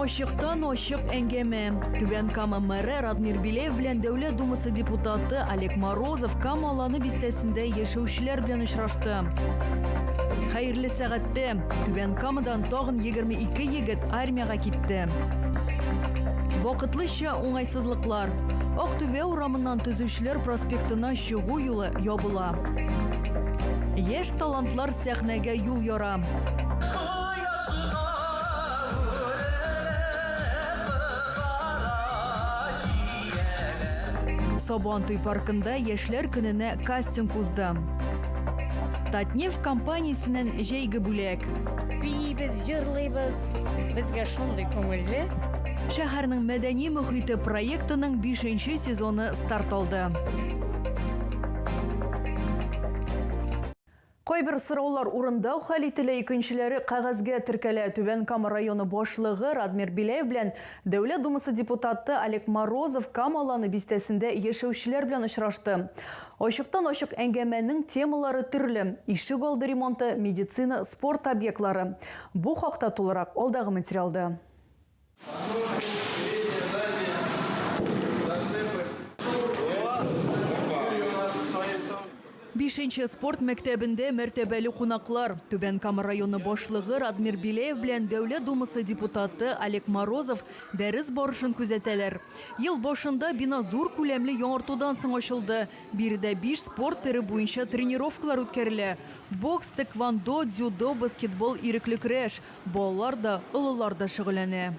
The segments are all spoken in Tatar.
Ачыктан ачык әңгәмә. Түбән Кама мэры Радмир Билеев белән Дәүләт Думасы депутаты Олег Морозов Кама Аланы бистәсендә яшәүчеләр белән очрашты. Хәерле сәгатьтә Түбән Камадан тагын 22 егет армиягә китте. Вакытлыча уңайсызлыклар. Актүбә урамыннан төзүчеләр проспектына чыгу юлы ябыла. Яшь талантлар сәхнәгә юл яра. Сабантуй паркында яшьләр көненә кастинг узды. Татнефть компаниясеннән җәйге бүләк. Биибез, җырлыйбыз. Безгә шундый күңелле. Шәһәрнең мәдәни мөхите проектының бишенче сезоны старт алды. Кайбер сораулар урында хәл ителә, икенчеләре кәгазьгә теркәлә. Түбән Кама районы башлыгы Радмир Беляев белән Дәүләт Думасы депутаты Олег Морозов Кама Аланы бистәсендә яшәүчеләр белән очрашты. Ачыктан-ачык әңгәмәнең темалары төрле, ишек алды ремонты, медицина, спорт объектлары. Бу хакта тулырак алдагы материалда. Бишенче спорт мәктәбендә мәртәбәле кунаклар, Түбән Кама районы башлыгы Радмир Беляев белән Дәүләт Думасы депутаты Олег Морозов дәрес барышын күзәтәләр. Ел башында бина зур күләмле яңартудан соң ачылды. Биредә биш спорт төре буенча тренировкалар үткәрелә. Бокс, тэквондо, дзюдо, баскетбол, ирекле көрәш. Балалар да, олылар да шөгыльләнә.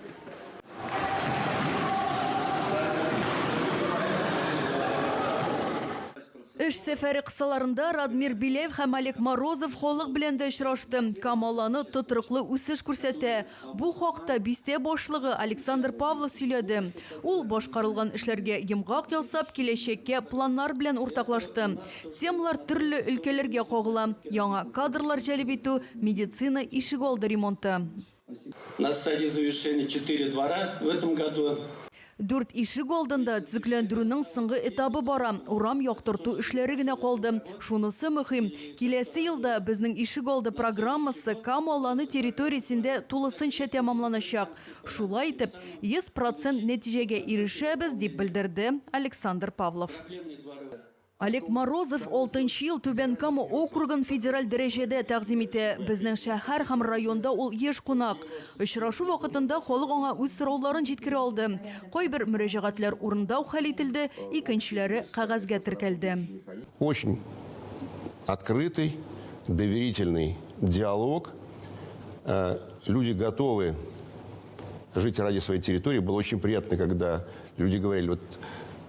Эш сәфәре кысаларында Радмир Беляев һәм Олег Морозов халык белән дә очрашты. Камал аны тотрыклы үсеш күрсәтә. Бу хакта бистә башлыгы Александр Павлов сөйләде. Ул башкарылган эшләргә йомгак ясап, киләчәккә планнар белән уртаклашты. Темалар төрле өлкәләргә кагыла, яңа кадрлар җәлеп итү, медицина, ишегалды ремонты. На стадии завершения четыре двора в этом году. Дүрт ишек алдында төзекләндерүнең соңгы этабы бара, урам яктырту эшләре генә калды. Шунысы мөһим, киләсе елда безнең ишегалды программасы Кама Аланы территориясендә тулысынча тәмамланачак. Шулай итеп, 100 процент нәтиҗәгә ирешәбез, дип белдерде Александр Павлов. Олег Морозов алтынчы ел Түбән Кама округын федераль дәрәҗәдә тәкъдим итә. Безнең шәһәр һәм районда ул еш кунак. Очрашу вакытында халык аңа үз сорауларын җиткерә алды. Кайбер мөрәҗәгатьләр урында ук хәл ителде, икенчеләре кәгазьгә теркәлде. Очень открытый, доверительный диалог. Люди готовы жить ради своей территории. Было очень приятно, когда люди говорили, вот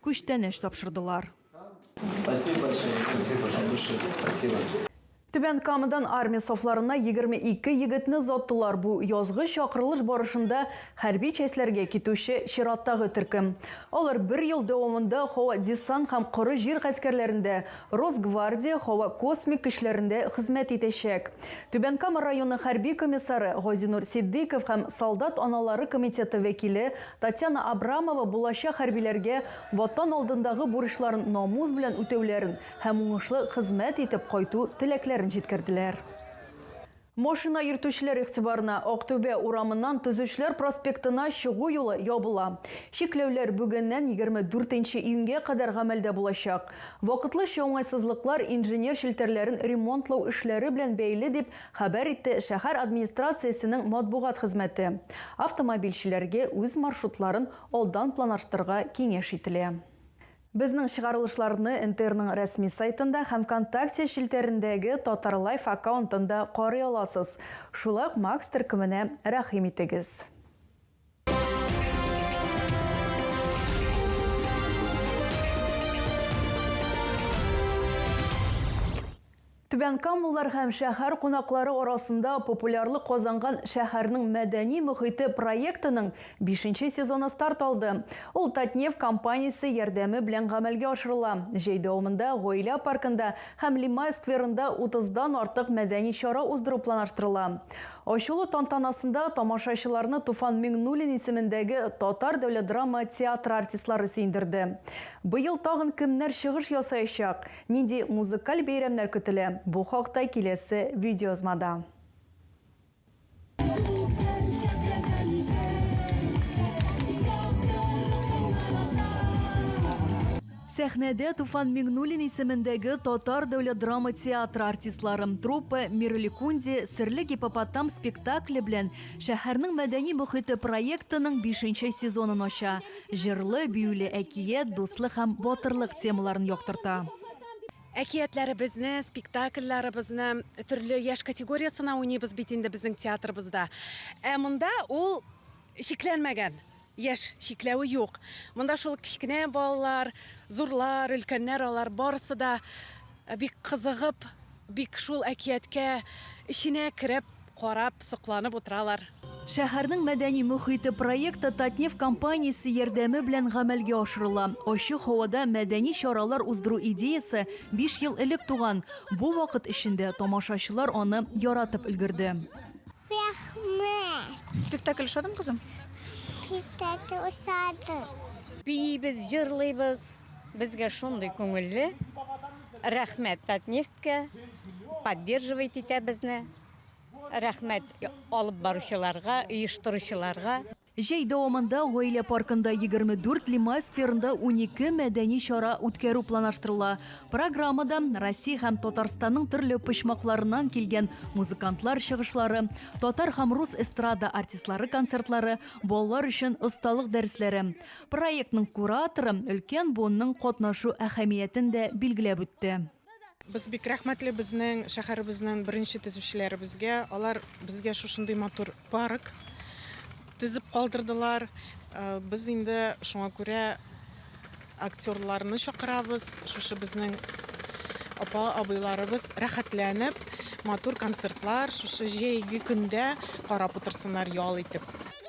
Күчтәнәч тапшырдылар. Түбән Камадан армия сафларына егерме ике егетне озаттылар, бу язгы чакырылыш барышында хәрби частьләргә китүче чираттагы төркем. Алар бер ел дәвамында һава-десант һәм коры җир гаскәрләрендә, Росгвардия, һава-космик көчләрендә хезмәт итәчәк. Түбән Кама районы хәрби комиссары Газинур Ситдыйков һәм солдат аналары комитеты вәкиле Татьяна Абрамова булачак хәрбиләргә Ватан алдындагы бурычларын намус белән үтәүләрен һәм уңышлы хезмәт итеп кайту теләкләрен җиткерделәр. Машина йөртүчеләр игътибарына, Актүбә урамыннан Төзүчеләр проспектына чыгу юлы ябыла. Чикләүләр бүгеннән 24 нче июньгә кадәр гамәлдә булачак. Вакытлыча уңайсызлыклар инженер челтәрләрен ремонтлау эшләре белән бәйле, дип Хәбәр итте шәһәр администрациясенең матбугат хезмәте. Автомобильчеләргә үз маршрутларын алдан планарштырга киңәш ителә. Безнең чыгарылышларны НТРның рәсми сайтында һәм Вконтакте челтәрендәге Татарлайф аккаунтында карый аласыз. Шулай ук Макс төркеменә рәхим итегез. Түбән Камулар һәм шәһәр кунаклары арасында популярлык казанган шәһәрнең мәдәни мөхите проектының 5 сезоны старт алды. Ул Татнефть компаниясе ярдәме белән гамәлгә ашырыла. Җәй дәвамында Гаилә паркында һәм Лимай скверында 30 дан артык мәдәни чара уздыру планлаштырыла. Ачылу тантанасында тамашачыларны Туфан Миңнуллин исемендәге Татар дәүләт драма театры артистлары сөендерде. Быел тагын кемнәр чыгыш ясаячак, нинди музыкаль бәйрәмнәр көтелә, бу хакта киләсе видеоязмада. Сәхнәдә Туфан Миңнуллин исемендәге Татар дәүләт драма театры артистлары труппа Миреликунди серле гиппопотам спектакле белән Шәһәрнең мәдәни мохите проектының бишенче сезонын ача, җырлы, биюле әкият, дуслык һәм батырлык темаларын яктырта. Әкиятләребезне, спектакльләребезне төрле яшь категориясенә уйныйбыз бит инде безнең театрыбызда. Ә монда ул чикләнмәгән. Яшь чикләве юк. Монда шул кечкенә балалар, зурлар, өлкәннәр алар барысы да бик кызыгып, бик шул әкияткә эченә кереп, карап, сокланып утыралар. Шәһәрнең мәдәни мохите проекты Татнефть компаниясе ярдәме белән гамәлгә ашырыла. Ачык һавада мәдәни чаралар уздыру идеясе биш ел элек туган. Бу вакыт эчендә тамашачылар аны яратып өлгерде. Рәхмәт. Спектакль ошадымы, кызым? Спектакль ошады. Биибез, җырлыйбыз. Безгә шундый күңелле. Рәхмәт Татнефтькә. Поддерживать итә безне. Рәхмәт алып баручыларга, оештыручыларга. Җәй дәвамында Гаилә паркында егерме дүрт, Лимай скверында унике мәдәни чара үткәрү планаштырыла. Программада, Россия һәм Татарстанның төрле почмакларыннан килгән музыкантлар чыгышлары, татар һәм рус эстрада артистлары концертлары, балалар өчен осталык дәресләре. Проектның кураторы өлкән буынның катнашу әһәмиятен дә билгеләп үтте. Без бик рәхмәтле безнең шәһәребезнең беренче төзүчеләребезгә. Алар безгә шушындый матур парк төзеп калдырдылар. Без инде шуңа күрә актерларны чакырабыз. Шушы безнең апа абыйларыбыз рәхәтләнеп матур концертлар шушы җәйге көндә карап утырсыннар ял итеп.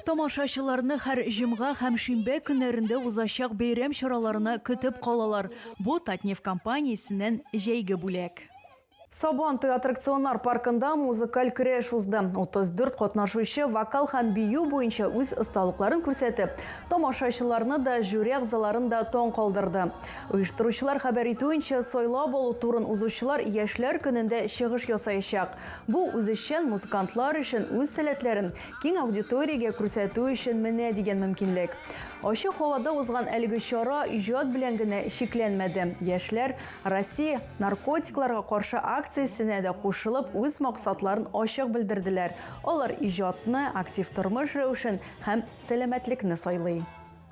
Тамашачыларны һәр җомга һәм шимбә көннәрендә узачак бәйрәм чараларына көтеп калалар, бу Татнефть компаниясеннән җәйге бүләк. Сабан туе аттракционнар паркында музыкаль көрәш узды. 34 катнашучы вокал һәм бию буенча үз осталыкларын күрсәтеп, тамашачыларны да, жюри әгъзаларын да таң калдырды. Оештыручылар хәбәр итүенчә, сайлап алу турын узучылар Яшьләр көнендә чыгыш ясаячак. Бу, үзешчән музыкантлар өчен үз сәләтләрен Киң аудиториягә күрсәтү өчен менә дигән мөмкинлек. Ачык һавада узган әлеге чара иҗат белән генә чикләнмәде. Яшьләр Россия наркотикларга каршы акциясенә дә кушылып, үз максатларын ачык белдерделәр. Алар иҗатны, актив тормыш рәвешен һәм сәламәтлекне сайлый.